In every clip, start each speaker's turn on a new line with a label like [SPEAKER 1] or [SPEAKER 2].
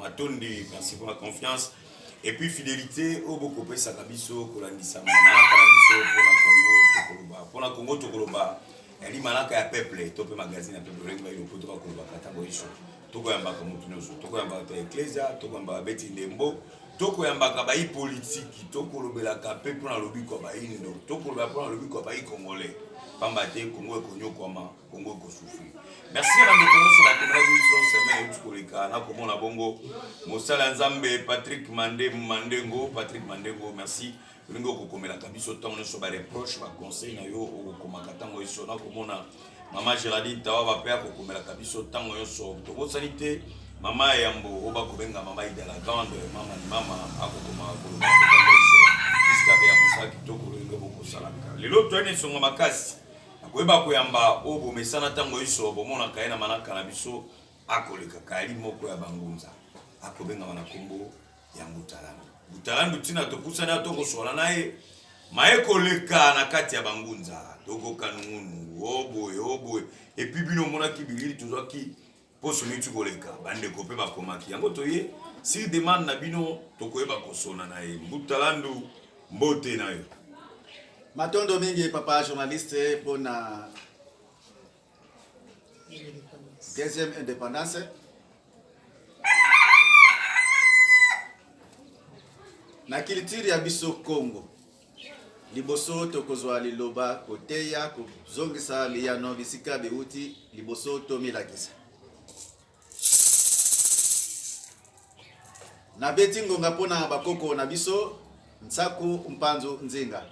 [SPEAKER 1] matonde
[SPEAKER 2] merci pour la confiance et puis fidélité oyo bokopesaka biso kolandisama malaka na biso mpona congo tokoloba mpona congo tokoloba yali malaka ya peuple to mpe magazine ya peuple olengi bayi lopoto bakolobaka ntango iso tokoyambaka motu nyonso tokoyambaka bato ya eklezia tokoyambaka beti ndembo tokoyambaka bayi politiki tokolobelaka mpe mpo na lobiko ya bayindo tokolobela mpo na lobiko ya bayi congolais pamba te kongo ekonyokwama kongo ekosufri merci na bandeko nyonso bakomelaki biso semaine euti koleka nakomona bongo mosala ya nzambe patrick mande mandengo patrick mandengo merci ndenge okokomelaka biso ntango nyonso bareproche baconseil na yo okokomaka ntango nyonso nakomona mama geraldine tawaba mpe akokomelaka biso ntango nyonso tobosani te mama ya yambo oyo bakobenga mama ida la grande mama ni mama akokomaka koloba ntango nyonso iskabe ya mosala kitoko ndenge bokosalaka lelo toyani na esonga makasi akoyeba koyamba oyo bomesana ntango nyonso bomonaka ye na manaka na biso akolekaka yali moko ya bangunza akobengama na nkombo ya mutalandu mutalandu ntina topusani ato kosola na ye maye koleka na kati ya bangunza tokoka nungunungu o boye o boye epuis bino omonaki bilili tozwaki mposo miti koleka bandeko mpe bakomaki yango toye si demande na bino tokoyeba kosona na ye mbutalandu mbote na yo matondo
[SPEAKER 3] mingi papa journaliste mpo na deuxième indépendance na culture ya biso Congo liboso tokozwa liloba koteya kozongisa liyano bisika biwuti liboso tomilakisa nabeti ngonga mpo na bakoko na biso nsaku mpanzu nzinga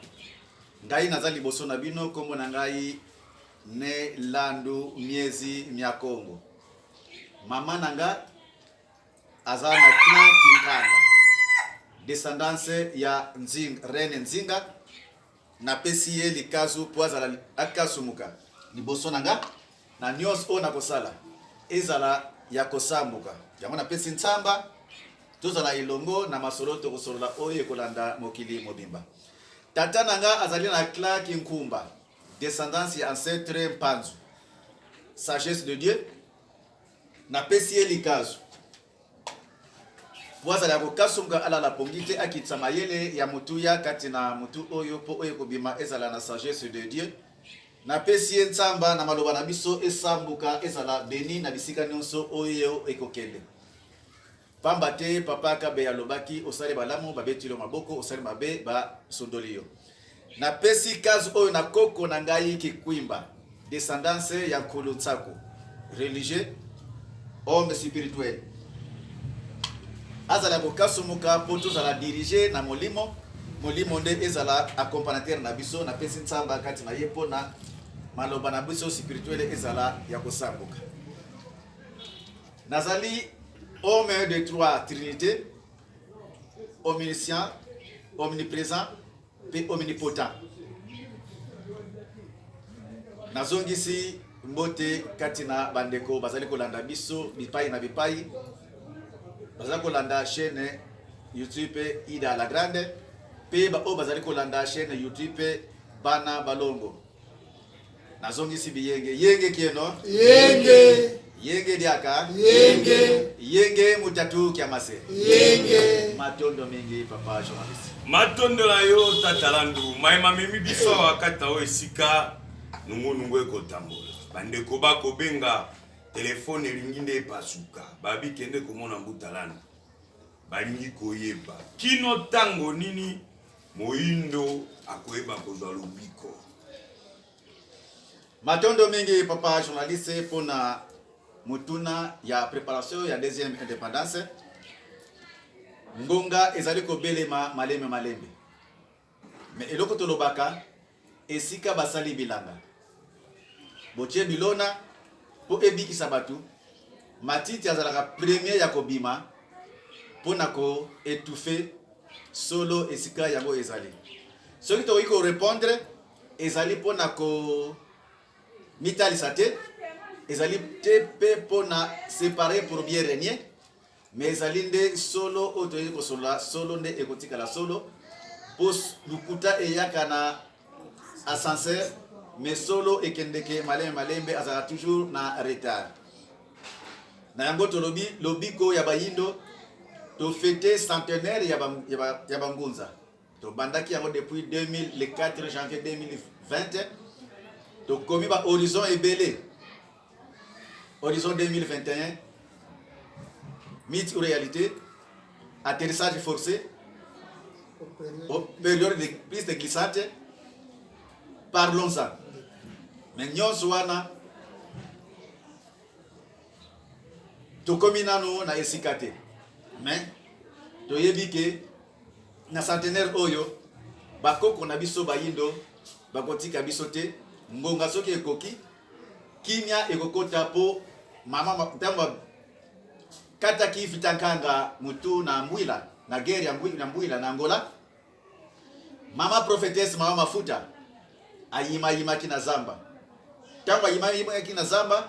[SPEAKER 3] ngai naza liboso na bino nkombo na ngai Ne Landu Miezi mia Kongo. Maman na nga aza na clan Kinkanda. Descendance ya Nzing, Reine Nzinga. Napesi ye likazu po azala akasumuka liboso na nga na nyonso oyo nakosala ezala ya kosambuka. Yango napesi nsamba tozala elongo na masolo tokosolola oyo ekolanda mokili mobimba. Tata na nga azali na clan Kinkumba. descendance ya ancetre mpanzu sagesse de dieu napesi ye likazu po azala ya kokasumka alala pongi te akitisa mayele ya motuya kati na motu oyo mpo oyo ekobima ezala na sagesse de dieu napesi ye nsamba na maloba na biso esambuka ezala beni na bisika nyonso oyo ekokende Pamba te papa kabeya alobaki osali malamu babeti yo maboko osali mabe ba sundoli yo na pesi case oyo na koko na ngai kikwimba descendance ya nkulu nsaku religieux homme spirituel azala kokasumuka mpo tozala dirige na molimo molimo nde ezala accompagnateur na biso na pesi nsamba kati na ye mpo na maloba na biso spirituel ezala ya kosambuka Nazali homme de trois trinités, omniscient, omnipresent mpe omnipotent. Nazongisi mbote kati na bandeko bazali kolanda biso bipai na bipai, bazali kolanda chaîne YouTube Ida la Grande mpe baoyo bazali kolanda chaîne YouTube Bana Balongo. nazongisi biyenge yenge kieno yenge yenge diaka yenge yenge mutatu kiamase yenge matondo mingi papa journaliste matondo na yo
[SPEAKER 2] tata landu mai mamemi biso awa kati na oyo esika nungunungu ekotambola bandeko bakobenga telefone elingi nde epasuka babi kende komona mbuta landu balingi koyeba kino ntango nini Moyindo akoyeba kozwa lobiko.
[SPEAKER 3] Matondo mingi papa journaliste pona motuna ya preparation ya deuxième indépendance. Ngonga ezali kobelema malembe malembe, mais eloko tolobaka Esika basali bilanga, botye bilona mpo ebikisa bato. Matiti azalaka premier ya kobima mpo na ko etouffe solo esika yango ezali. Soki tokoki ko repondre, ezali mpo na ko mitalisa te, ezali te mpe mpo na separe pour bien regner. Mais ezali nde solo oyo toyei kosolola, solo nde ekotikala solo, mpo lokuta eyaka na ascenseur, mais solo ekendeke malembe malembe, azalaka toujours na retard. Na yango tolobi lobiko ya bayindo tofete centenaire ya bangunza tobandaki yango depuis 2000 le 4 janvier 2020 tokomi ba horizon ebele horizon 2021 mythe ou réalité atterrissage forcé période de piste glissante parlons-en mais nyonso wana tokomi nano na esika te mais toyebi ke Na centenaire oyo, bakoko na biso bayindo bakotika biso te. Ngonga soki ekoki, kimia ekokota mpo mama ntango kataki Vita Nkanga mutu na Mbwila na guerre ya Mbwila na Angola. Mama prophetesse, mama mafuta Ayimayimaki na zamba. Ntango ayimayimaki na zamba,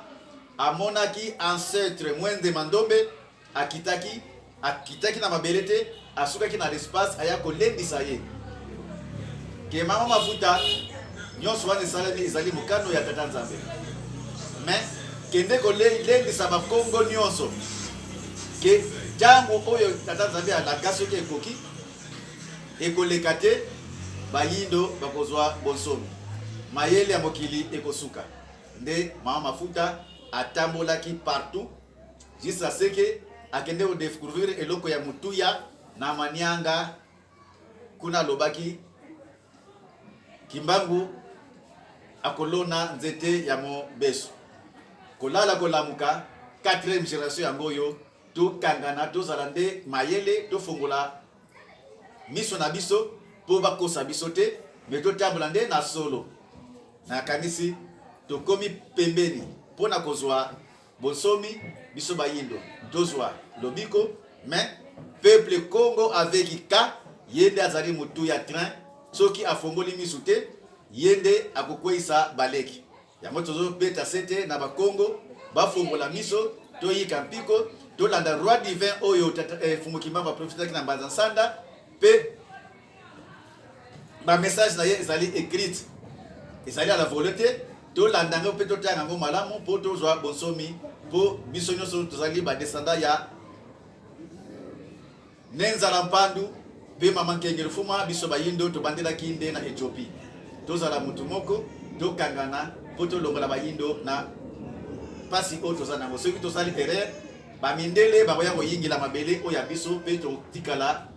[SPEAKER 3] amonaki ancetre Mwende Mandombe akitaki, akitaki na mabele te, asukaki na l'espace, aya kolendisa ye ke mama mafuta nyonso wana esalemi ezali mokano ya tata Nzambe, me kende kolendisa bakongo nyonso ke ntango oyo tata Nzambe alaka soki ekoki ekoleka te, bayindo bakozua bonsomi, mayele ya mokili ekosuka. Nde mama mafuta atambolaki partout jusqu'à ce que akende ko decouvrir eloko ya mutuya na manianga kuna alobaki kimbangu akolona nzete ya mobesu kolala kolamuka 4e generation yango oyo Tokangana, tozala nde mayele, tofongola miso na biso mpo bakosa biso te, me totambola nde na solo. Nakanisi tokomi pembeni mpo na kozwa bonsomi, biso bayindo tozwa lobiko, me peuple Congo avec ka ye nde azali motu ya train, soki afongoli miso te ye nde akokweisa baleki. Yango tozo beta sete na ba Kongo ba fongola miso to yika mpiko to landa roi divin oyo tata eh, Fumu Kimbangu a profitaki na Mbanza Nsanda pe ba message na ye ezali écrite ezali à la volée te to landa ngo pe to tanga ngo malamu po to zwa bonsomi po biso nyoso tozali ba descendant ya Ne Nzala Mpandu mpe Mama Nkengel Fuma, biso bayindo tobandelaki nde na Ethiopie. Tozala motu moko, tokangana mpo tolongola bayindo na mpasi oyo toza na yango. Soki tosali erreur, ba mindele bakoya koyingela mabele oyo ya biso mpe totikala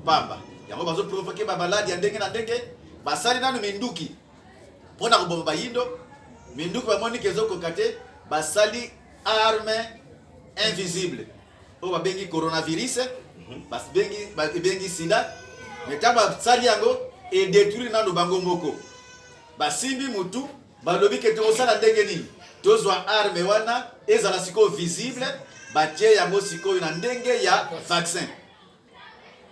[SPEAKER 3] pamba. Yango bazo provoke ba maladi ya ndenge na ndenge, basali nanu minduki mpo na koboma bayindo, minduki bamoni ke ezokoka te, basali arme invisible. oyo babengi coronavirus mhm. babengi sida me ntango basali yango edetruire nano bango moko basimbi motu balobi ke tokosala ndenge nini tozwa arme wana ezala sikoyo visible batie yango sikoyo na ndenge ya vaccin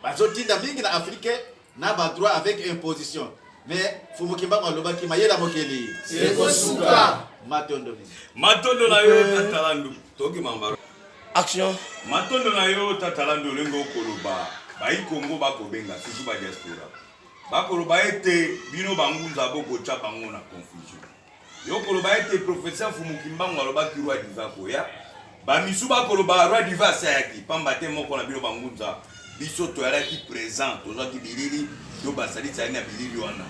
[SPEAKER 3] Bazo tinda mingi na Afrique na ba droit avec imposition mais Fumu Kimbangu alobaki mayela mokeli ekosuka.
[SPEAKER 4] Matondo mingi.
[SPEAKER 3] Matondo na
[SPEAKER 2] yo tata Landu. Toki mambaro. Action.
[SPEAKER 4] Matondo na
[SPEAKER 2] yo tata Landu olingi okoloba bayi Congo bakobenga toujours ba diaspora bakoloba ete bino bangunza bokotya bango na confusion. Yo koloba ete professeur Mfumu Kimbangu alobaki roi diva koya, bamisu bakoloba roi diva asi ayaki, pamba te moko na bino bangunza biso toyalaki present, tozwaki bilili to basalisi ali na bilili wana,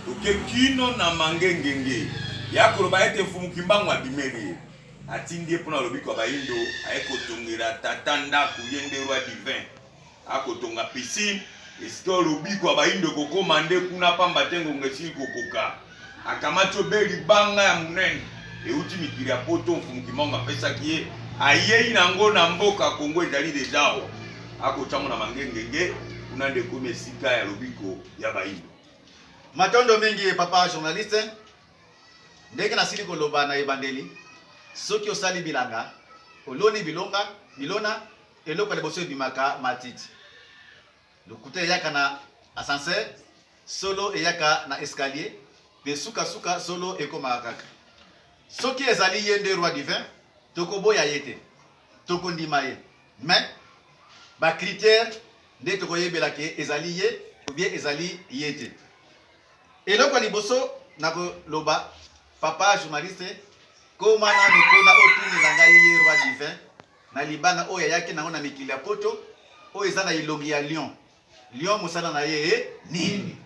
[SPEAKER 2] toke kino na mangengenge ya koloba ete Mfumu Kimbangu abimeli ye atindi ye mpona lobiko ya baindo aye kotongela tata ndako ye nde roi divin akotonga piscine esika oyo lobiko ya baindo ekokoma nde kuna pamba te ngonga esili kokoka akamati obe libanga ya monene euti mikili ya poto mfumu kimbangu apesaki ye ayei na yango na mboka kongo ezali deja awa akotiango na mangengenge kuna nde ekomi esika ya lobiko ya baindo matondo
[SPEAKER 3] mingi papa journaliste ndenge nasili koloba na ebandeli soki osali bilanga oloni bilonga bilona Eloko ya liboso ebimaka matiti. Lokuta eyaka na ascenseur, solo eyaka na escalier, pe suka suka solo ekomaka kaka. Soki ezali ye nde roi divin, tokoboya ye te, tokondima ye. Mais ba critères nde tokoyebela ke ezali ye ou bien ezali ye te. Eloko ya liboso nakoloba papa journaliste koma nanu kuna otunela ngai ye roi divin Na libanga oyo ayaki na yango na mikili ya poto oyo eza na elongi ya lion. Lion mosala na ye e nini?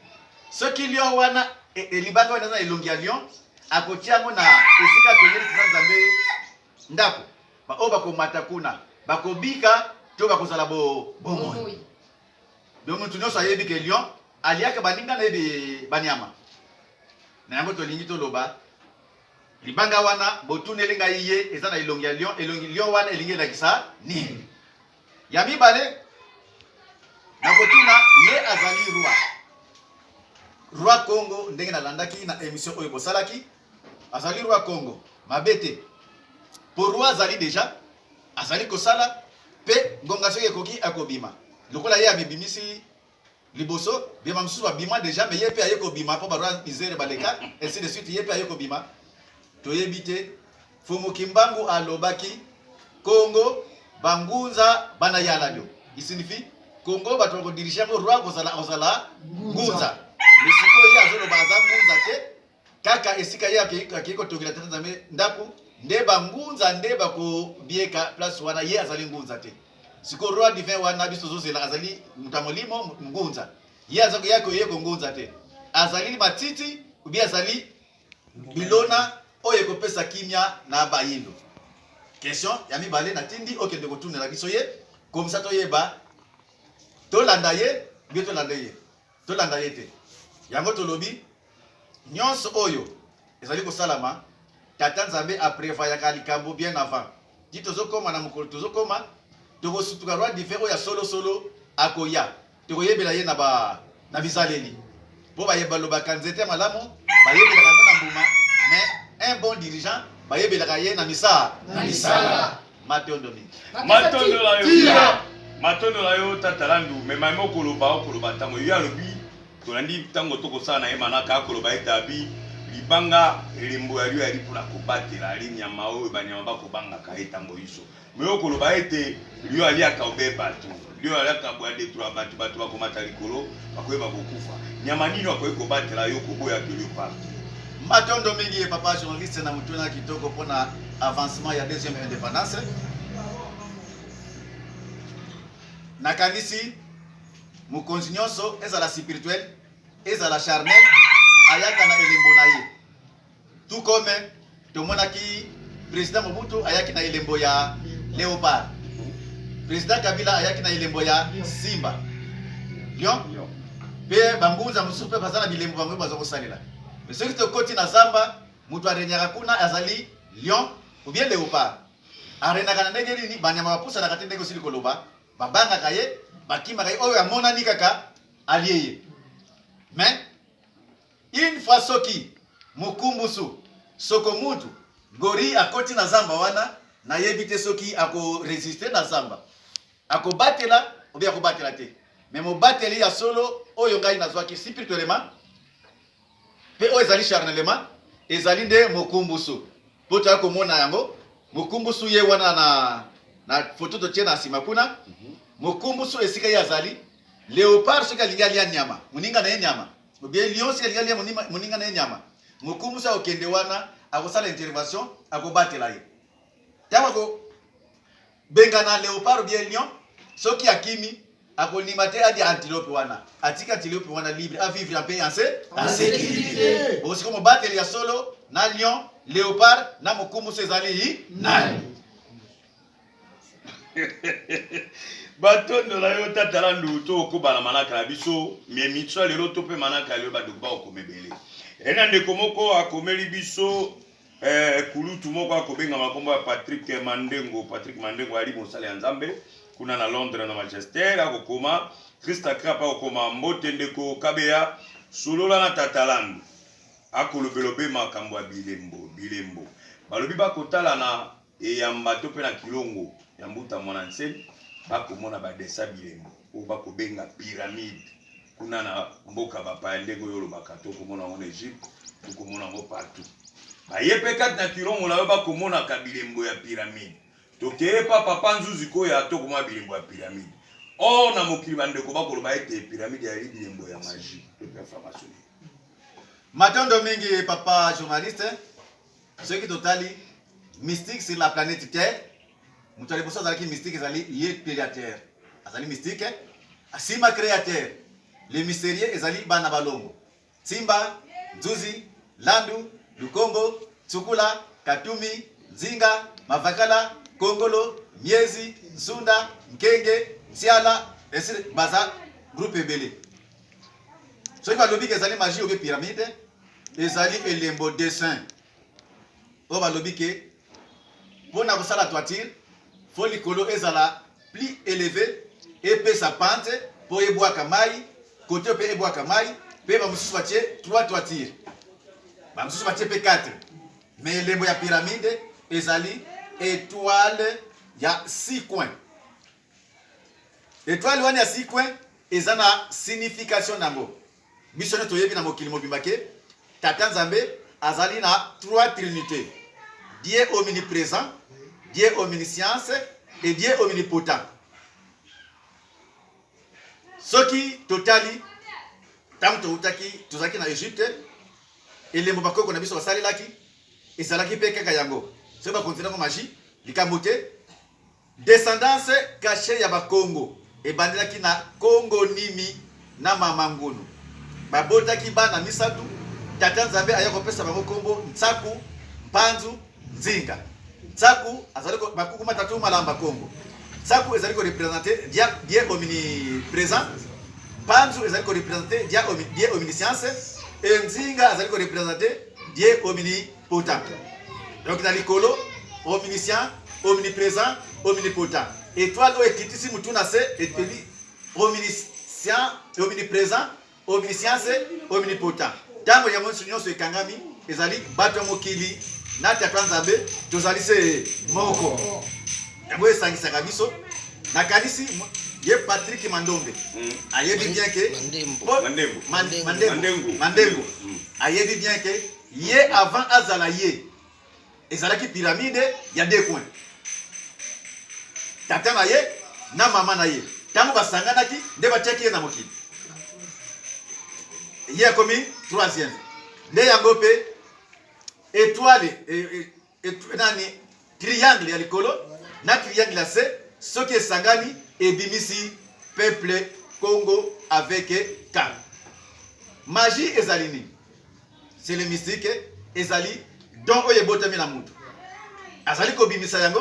[SPEAKER 3] Soki lion wana e, e, libanga wana eza na elongi ya lion, akotia yango na esika pembeni kuna Nzambe ndako. Baoyo bakomata kuna bakobika to bakozala bomoi. Donc moto nyonso ayebi ke lion aliaka baninga na ye banyama na yango tolingi toloba Libanga wana botuneli ngai ye eza na elongi ya lion, elongi lion wana elingi elakisa nini? Ya mibale nakotuna ye azali roi roi Congo, ndenge nalandaki na emission oyo bosalaki, azali roi Congo mabe te, po roi azali deja azali kosala pe ngonga soki ekoki akobima lokola ye amibimisi liboso bima mosusu babima deja mais ye pe aye kobima po baroi misere baleka ainsi de suite ye pe aye kobima toyebi te fumu kimbangu alobaki congo bangunza bana ya ladio isinifie congo bato bakodirige yango roi kozala kozala ngunza mais sikoyo ye azoloba aza ngunza te Kaka esika ye akeyi akeyi kotongela Tata Nzambe ndako nde ba ngunza nde bakobieka place wana ye azali ngunza te. Siko roi divin wana biso tozozela azali moto ya molimo ngunza. Ye aza koya koye kongunza te. Azali matiti obi azali bilona oyo ekopesa kimia na bayindo. Question ya mibale natindi okende kotunela biso ye komisa toyeba tolanda ye bie tolanda ye. Tolanda ye te. Yango tolobi nionso oyo ezali kosalama Tata Nzambe a prevoyaka likambo bien avant. Ti tozokoma na mokolo tozokoma tokosutuka Roi Dive oyo ya solo solo akoya. Tokoyebela ye na ba na bizaleli. Po baye balobaka nzete ya malamu bayebelaka yango na mbuma mais un bon dirigeant bayebelaka ye na misa na misala. Matondo mingi. Matondo la yo. Tira.
[SPEAKER 2] Matondo la yo tata landu mais mama okoloba okoloba tango yo alobi tolandi tango tokosala na ye manaka akoloba ete abi libanga elembo ya lio yali mpona kobatela ali nyama oyo banyama bakobangaka ye tango inso mais okoloba ete lio aliaka obe bato Lion alaka na bwa detroit batu batu bakomata likolo bakoyeba kokufa nyama nini akoki kobatela yo koboya de leopard. Matondo mingi
[SPEAKER 3] ye papa journaliste na mutuna kitoko pona avancement ya deuxième indépendance. Nakanisi mokonzi nyonso ezala spirituel ezala charnel ayaka na elembo na ye. Tout comme tomonaki president Mobutu ayaki na elembo ya Leopard. President Kabila ayaki na elembo ya Simba. Lion. Pe bangunza mosusu pe baza na bilembo bango baza kosalela. Mais soki tokoti na zamba, moto arenyaka kuna azali lion ou bien leopard. Arenaka na ndenge nini? Banyama bapusanaka te ndenge osili koloba, babangaka ye, bakimaka ye, oyo amonani kaka alie ye. Mais Une fois soki mukumbusu soko mutu gorille akoti na zamba wana na yebi te soki ako resister na zamba ako batela ou bien ako batela te mais mobateli ya solo oyo ngai nazwaki spirituellement pe oyo ezali charnellement ezali nde mokumbusu po toya komona yango mokumbusu ye wana na na foto totie na nsima kuna mhm. mokumbusu esika ye azali leopard soki alingi alia nyama moninga na ye nyama Obie Lion sika likalia moninga na ye nyama. Mokumu sa okende wana akosala intervention akobatela ye. Yako ko bengana leopard obie Lion soki akimi akolima te adi antilope wana atika antilope wana libre a vivre en paix en se en sécurité. Bosiko mobateli ya solo na Lion, leopard na mokumu sa ezali nani?
[SPEAKER 2] batondo na yo tata landu tokoba na manaka na biso miemitso ya lelo to mpe manaka ya lelo bandeko bakokoma ebele ena ndeko moko akomeli biso eh, kulutu moko akobenga makombo ya patrik mandengo patrik mandengo ali mosali ya nzambe kuna na londres na manchester akokoma krista crap akokoma mbote ndeko kabeya solola na tata landu akolobelobe makambo ya bilembo bilembo balobi bakotala na Eyamba to mpe na kilongo ya Mbuta Mwana Nsemi, bakomona ba dessins bilembo oyo bakobenga pyramide kuna na mboka bapaya ndenge oyo olobaka, tokomona yango na Egypte, tokomona yango partout. Baye mpe kati na kilongo na yo bakomonaka bilembo ya pyramide. Tokeye pa Papa Nzuzi Koya tokomona bilembo ya pyramide. Or na mokili bandeko bakoloba ete pyramide eyali bilembo ya magie to mpe ya franc-maçonnerie.
[SPEAKER 3] Matondo mingi papa journaliste. soki totali mystique sur la planète terre moto ya liboso azalaki mystique ezali ye createur azali mystique asima createur le mystérieux ezali bana balongo simba nzuzi landu lukombo tsukula katumi nzinga mavakala kongolo miezi nsunda nkenge nsiala esi baza groupe ebele soki balobi ke ezali magie obe pyramide ezali elembo dessin oyo balobi ke mpo na kosala toiture fo likolo ezala plus eleve epesa pante mpo ebwaka mai kote mpe ebwaka mai mpe bamosusu batie 3 toiture bamosusu batie mpe 4 me elembo ya piramide ezali etoile ya 6 coin Etoile wana ya sikwe eza na signification nango. Biso nde toyebi na mokili mobimba ke Tata Nzambe azali na trois trinités. Dieu omnipresent, Dieu omniscience et Dieu omnipotent. Soki totali ntango toutaki tozalaki na Egypte, elembo bakoko na biso basalelaki ezalaki mpe kaka yango. Soki bakonzi nango magie likambo te, Descendance cachee ya Bakongo ebandelaki na Kongonimi na Mama Ngunu. Babotaki bana misato, Tata Nzambe aya kopesa bango kombo Nsaku, Mpanzu, Nzinga. Nsaku azali ko bakuku matatu malamba Kongo. Nsaku ezali ko representer Dia Dieu omnipresent. Mpanzu ezali ko representer Dia Dieu omniscience et Nzinga azali ko representer Dieu omni Potent. Donc na likolo, omniscient, omnipresent, omnipotent. Étoile oyo ekitisi mutu na se etebi omniscient, omnipresent, omniscience, omnipotent. Ntango yango nyonso ekangami ezali bato ya mokili na Tata Nzambe tozali se moko. Yango esangisaka biso. Nakanisi ye Patrick Mandombe mm. ayebi bien ke Mandembo Mandengo ayebi bien ke ye avant azala ye ezalaki pyramide ya deux coin tata na ye na mama na ye ntango basanganaki nde batiaki ye na mokili ye akomi troisième nde yango mpe etoile e, e, Et nani triangle ya likolo na triangle ya se soki esangani ebimisi peuple Congo avec calme. Magie ezali nini? C'est le mystique ezali don oyo ebotami na moto azali kobimisa yango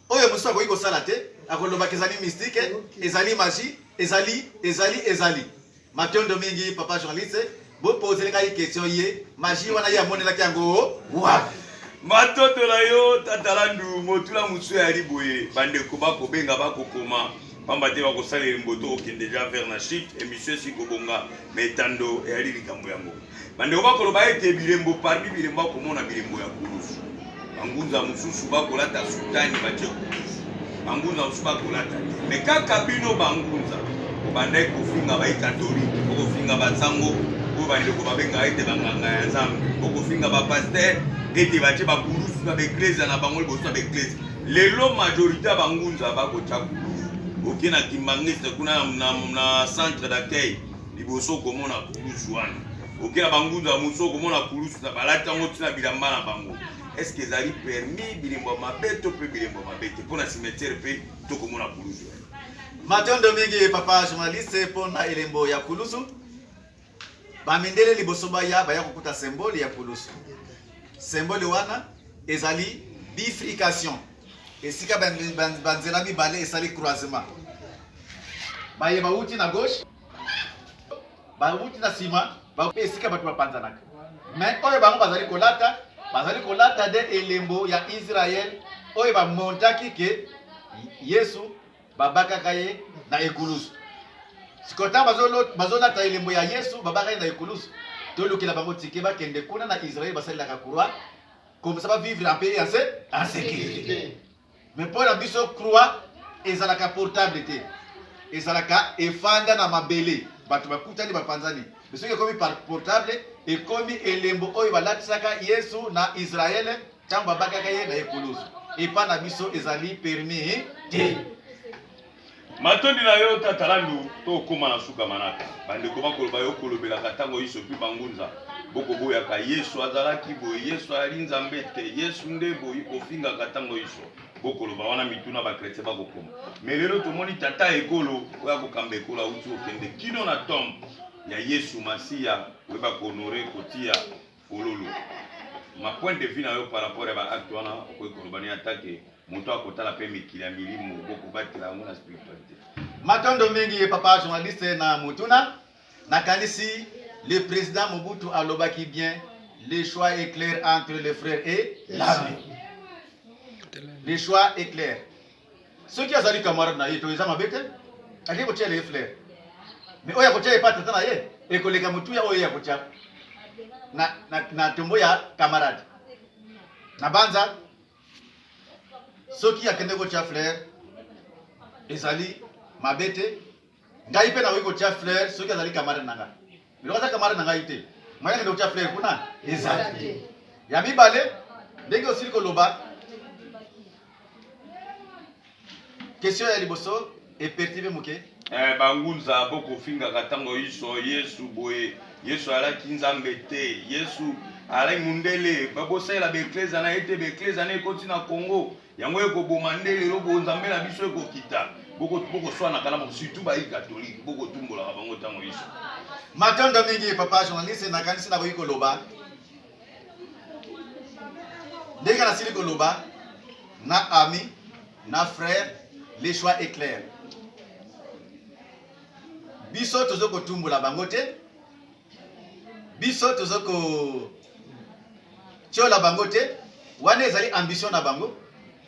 [SPEAKER 3] oyo mosusu akoki kosala te akolobaka ezali mystique ezali magie ezali ezali ezali Matondo mingi papa journaliste, bopozele ngai question ye magie wana ye amonelaki yango wapi? Matondo na
[SPEAKER 2] yo tata Landu, motula mosusu ya liboye bandeko bakobenga bakokoma pamba te bakosalela mboto okende ja vers na chute emission esi kobonga metando eyali likambo yango. Bandeko bakoloba ete bilembo parmi bilembo akomona bilembo ya kulusu. Bangunza mosusu bakolata sutani batie kulusu, bangunza mosusu bakolata te. Me kaka bino bangunza obandaki kofinga baikatolike, okofinga basango oyo bandeko babengaka ete banganga ya Nzambe, okofinga bapaster ete batie bakulusu na baeklezia na bango liboso na baeklezia. Lelo majorite ya bangunza bakotya kulusu. Oke na Kimbangiste kuna na centre d'accueil liboso okomona kulusu wana oke na bangunza mosu okomona kulusu na balati yango ntina bilamba na bango eske ezali permis bilembo ya mabe to mpe bilembo ya mabe te mpo na cimetiere mpe tokomona kulusu wana matondo
[SPEAKER 3] mingi papa journaliste mpo na elembo ya kulusu bamindele liboso baya baya kokuta symbole ya kulusu symbole wana ezali bifrication esika banzela mibale esali croisement baye bauti na gauche bawuti na nsima bape esika bato bapanzanaka me oyo bango bazali kolata bazali kolata nde elembo ya israele oyo bamontaki ke yesu babakaka ye na ekulusu sikoyo ntango bazolata elembo ya yesu babaka ye na ekulusu tolukela bango tike bakende kuna na israele basalelaka kurwa komisa bavivre mpe ya se en sécurité Mais pour la biso croix ezalaka portable te. Ezalaka efanda na mabele. Bato bakutani bapanzani. Mais soki ekomi par portable ekomi elembo oyo balatisaka Yesu na Israël ntango babakaka ye na ekulusu. Epa na biso ezali permis te.
[SPEAKER 2] Matondi na yo tata landu tokoma na suka manaka bandeko bakoloba yo kolobelaka ntango iso mpe bangunza bokoboyaka yesu azalaki boye yesu ayali nzambe te yesu nde boyi kofingaka ntango iso bokoloba wana mituna bakretien bakokoma me lelo tomoni tata ekolo oyo akokamba ekolo auti okende kino na tombe ya yesu masiya oyeba kohonore kotia Pululu. Ma point de vue na yo par rapport ya ba acte wana okoki koloba ni ata que moto akotala pe mikili ya milimo boko batela yango na spiritualite. Matondo mingi
[SPEAKER 3] papa journaliste na motuna na kanisi le president Mobutu alobaki bien le choix est clair entre le frère et l'ami. Le choix est clair. soki azali camarade na ye to eza mabe te alingi kotyela ye flair mais oyo akotya ye pa tata na ye ekoleka motuya oyo ye akotya na, na, na tombo ya camarade na banza soki akende kotya flair ezali mabe te Ngai pe nakoki kotia fleur soki azali camarade na ngai. Biloko aza camarade na ngai te. Moyen kende kotia fleur kuna ezali. Ya mibale ndenge osili koloba question ya liboso epertive moke eh, bangunza
[SPEAKER 2] bokofingaka ntango iso yesu boye yesu alaki nzambe te yesu alaki mundele babosalela baeklezia na ye te baeklezia na ekoti na congo yango ekoboma nde lelo bonzambe na biso ekokita bokoswanaka na bango surtout bayi katolike bokotumbolaka bango ntango iso matondo
[SPEAKER 3] mingi papa journaliste nakanisi nakoki koloba ndenge nasili koloba na ami na frère le choix est clair biso tozo kotumbola bango te biso toza ko tiola bango te wana ezali ambition na bango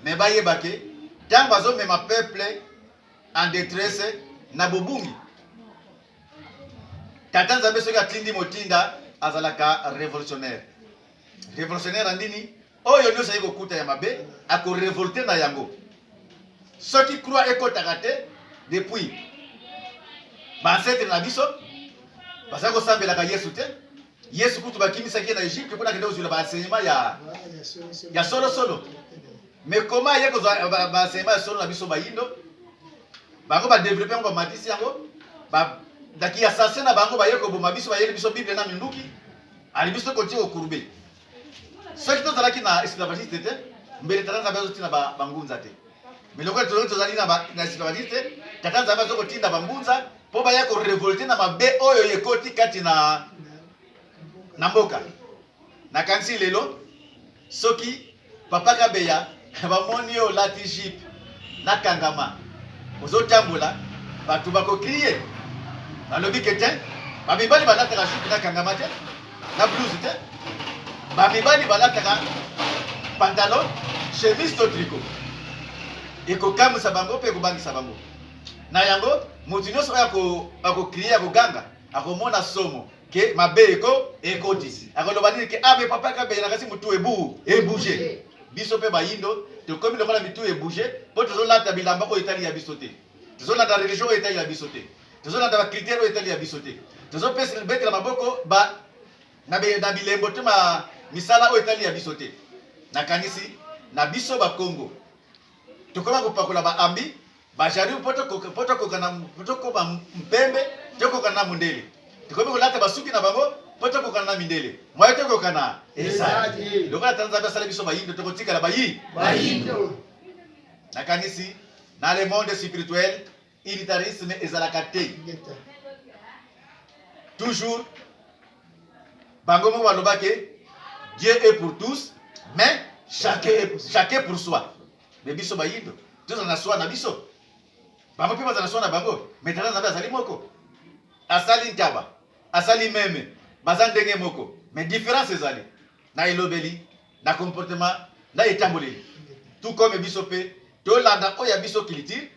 [SPEAKER 3] me bayeba ke ntango azomema peuple en detresse na bobungi tata nzambe soki atindi motinda azalaka revolutionnaire revolutionnaire ya nini oyo nyonso aye kokuta ya mabe akorevolte na yango soki croix ekotaka te depuis bansetre na biso bazali kosambelaka yesu te yesu kutu bakimisaki ye na egypte mpona kende kozwila baenseignement ya, ya solosolo me koma aye kozwa baenseignement ya solo na biso bayindo bango badevelope yango bamatisi yango ndaki ya sase na bango baye koboma biso bayeli biso bible na minduki ali biso kotia kokurube soki tozalaki na esclavagiste te mbele tata nzambe azotinda bangunza te mais lokola tozali tozali na esclavagiste tata nzambe azo kotinda bangunza mpo baya korevolte na mabe oyo ekoti kati na na mboka nakanisi lelo soki papa kabeya bamoni yo olati jupe na kangama ozotambola bato bakokrie balobi ke te bamibali balataka jupe na kangama te na blouse te bamibali balataka pantalon chemise to triko ekokamwisa bango mpe ekobangisa bango na yango moto nyonso oyo akokrie akoganga akomona somo ke mabe eko ekotisi akoloba nini ke abe ah, papa kabela kasi mutu ebu ebouge biso mpe bayindo tokomi lokola mitu ebouge mpo tozolata bilamba oyo etali ya biso te tozolanda religion oyo etali ya biso te tozolanda bakritere oyo etali ya biso te tozopesa betela maboko ba na bilembo to misala oyo etali ya biso te nakanisi na biso bakongo tokoma kopakola baambi Bajaribu mpo tokoka mpo tokoka na mpo tokoma mpembe tokokana na mondele tokomi kolata basuki na bango mpo tokokana na mindele moye tokokana ezali lokola tata nzambe asali biso bayindo tokotikala bayi bayindo nakanisi na le monde spirituel unitarisme ezalaka te toujours bango moko balobaki dieu est pour tous mais chacun est- chacun pour soi Mais biso bayindo tozala na soi na biso, bango mpe bazala na soi na bango. Mais tata Nzambe azali moko, asali ntaba, asali meme, baza ndenge moko, mais difference ezali na elobeli, na comportement, na etamboleli. Tout comme biso mpe tolanda oyo ya biso culture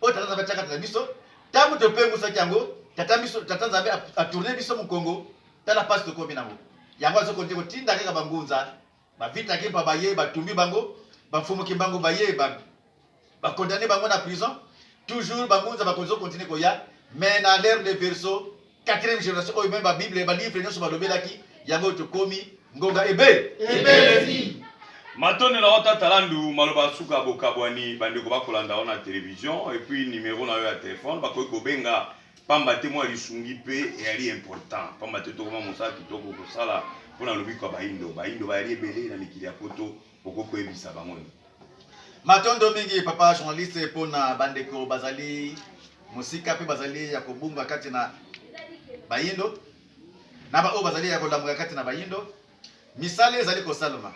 [SPEAKER 3] oyo tata Nzambe atiaka na biso, ntango topengusaki yango tata biso tata Nzambe atourne biso mokongo, tala mpasi tokomi nango. Yango azokonde kotinda kaka bangunza Ba vita kimpa baye ba tumbi bango ba mfumu kimbangu baye ba ba condamne bango na prison toujours ba ngunza ba kozo continue koya mais na l'heure de verso quatrième génération oyo même ba bible ba livre nionso ba lobelaki yango tokomi ngonga ebe ebelesi Matondo
[SPEAKER 2] na yo tata Landu, maloba ya suka bokabwani bandeko bakolanda yo na television et puis numero na yo ya telephone bakoki kobenga pamba te mwa lisungi mpe eyali important pamba te tokoma mosala kitoko kosala mpo na lobiko ya bayindo bayindo bayali ebele na mikili ya poto okoki koyebisa bango nini matondo
[SPEAKER 3] mingi papa journaliste mpo na bandeko bazali mosika mpe bazali ya kobunga kati na bayindo na baoyo bazali ya kolamuka kati na bayindo misala ezali kosalema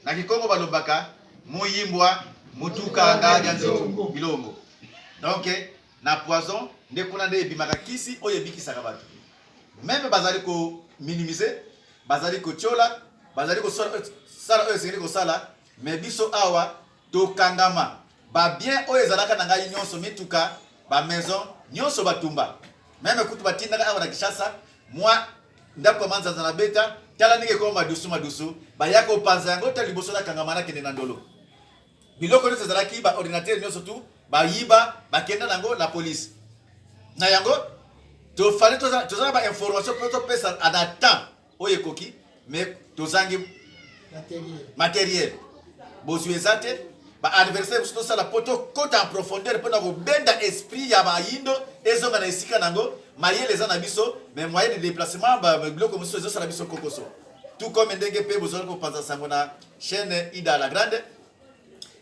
[SPEAKER 3] na kikongo balobaka moyimbwa motuka ngaja nzoto bilongo donc Na poison nde kuna nde ebimaka kisi oyo ebikisaka batu meme bazali ko minimiser bazali kotiola bazali kosala oyo esengeli kosala mais biso awa tokangama ba bien oyo ezalaka na ngai nionso mituka ba maison nionso batumba meme kutu batindaka awa na Kinshasa mwa ndako ya manzanza na beta tala ndenge ekoma madusu madusu baya kopanza yango ta liboso nakangama nakende na ndolo Biloko nionso ezalaki ba ordinateur nionso tu bayiba bakenda nango na police na yango tofali toza na ba information mpo topesa na temps oyo ekoki mais tozangi materiel bozwi eza te ba adversaire mosusu tosala mpo tokota en profondeur mpo na kobenda esprit ya bayindo ezonga na esika na yango mayele eza na biso mais moyen de déplacement biloko mosusu ezosala biso kokoso tout comme ndenge mpe bozali kopanza sango na chaîne ida la grande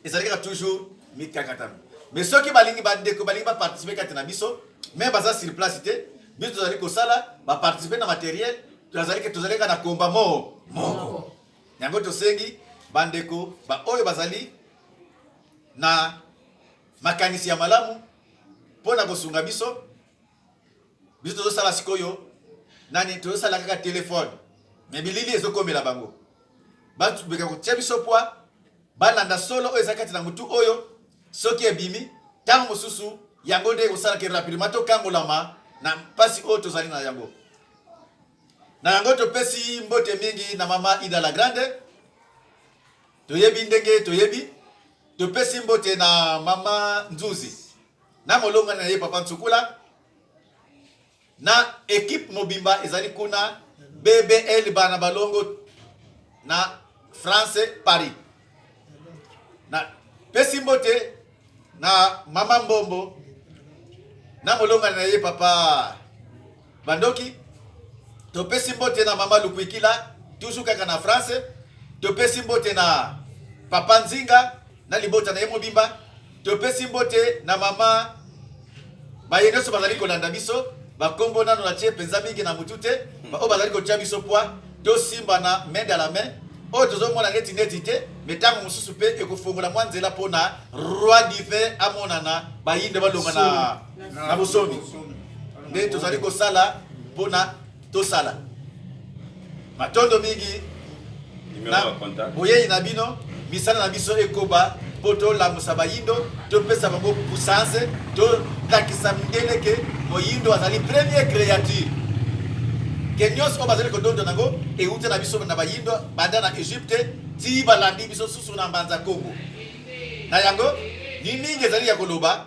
[SPEAKER 3] ezali kaka toujours mikakatano mais soki balingi bandeko balingi baparticipe kati na biso me baza sur place te biso tozali kosala baparticipe na materiel tozali tozali kaka na komba moo moko yango tosengi bandeko baoyo bazali na makanisi ya malamu mpo na kosunga biso biso tozosala sikoyo nani tozosala kaka telefone me bilili ezokomela bango batubeka kotia biso pwa balanda solo oyo eza kati na motu oyo soki ebimi ntango mosusu yango nde ekosala ke rapidement tokangolama na mpasi oyo tozali na yango na yango topesi mbote mingi na mama ida la grande toyebi ndenge toyebi topesi mbote na mama nzuzi na molongani na ye Papa Nsukula na ekipe mobimba ezali kuna BBL bana balongo na France Paris na pesi mbote na mama mbombo na molongani na ye papa Bandoki, topesi mbote na mama Lukwikila, tuzu kaka na France. Topesi mbote na papa Nzinga na libota na ye mobimba. Topesi mbote na mama baye nyonso bazali kolanda biso bakombo nano na tie mpenza mingi na motu te hmm. baoyo bazali kotya biso pwa tosimbana main dans la main oyo tozomona neti neti te me ntango mosusu mpe ekofongola mwa nzela mpo na roi divin amonana bayinde balonga na na bosomi nde tozali kosala mpo na tosala matondo mingi na boyei na bino misala na biso ekoba mpo tolamusa bayindo topesa bango puissance tolakisa mindele ke moyindo azali premier créature ke nyonso oyo bazali kodonda nango euti na biso na bayindo banda na egypte ti balandi biso susu na mbanza kongo na yango ni mingi ezali ya koloba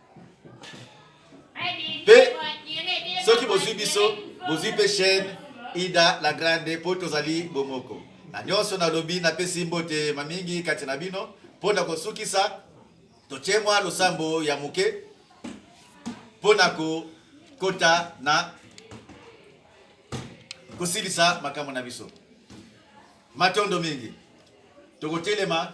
[SPEAKER 3] mpe soki bozwi biso bozwi mpe chaîne ida la grande mpo tozali bomoko na nyonso nalobi napesi mbote ma mingi kati na bino mpo na kosukisa totie mwa losambo ya moke mpo na kokota na kosilisa makambo na biso matondo mingi tokotelema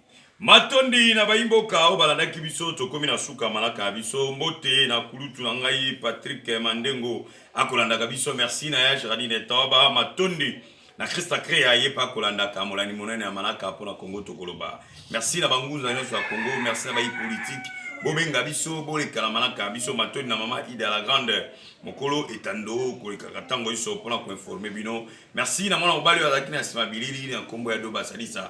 [SPEAKER 2] Matondi na bayi mboka oyo balandaki biso, tokomi na suka ya manaka na biso. Mbote na kulutu na ngai Patrick Mandengo akolandaka biso. Merci na ya Geraldine Toba. Matondi na Christa Crea ye pa kolandaka molandi monene ya manaka mpo na Congo tokoloba. Merci na bangunza nyonso ya Congo, merci na bayi politique bobenga biso boleka na manaka ya biso matoni na mama ida la grande mokolo etando kolekaka ntango iso mpona koinforme bino merci na mwana mobali oyo azalaki na nsima bilili na nkombo ya doba salisa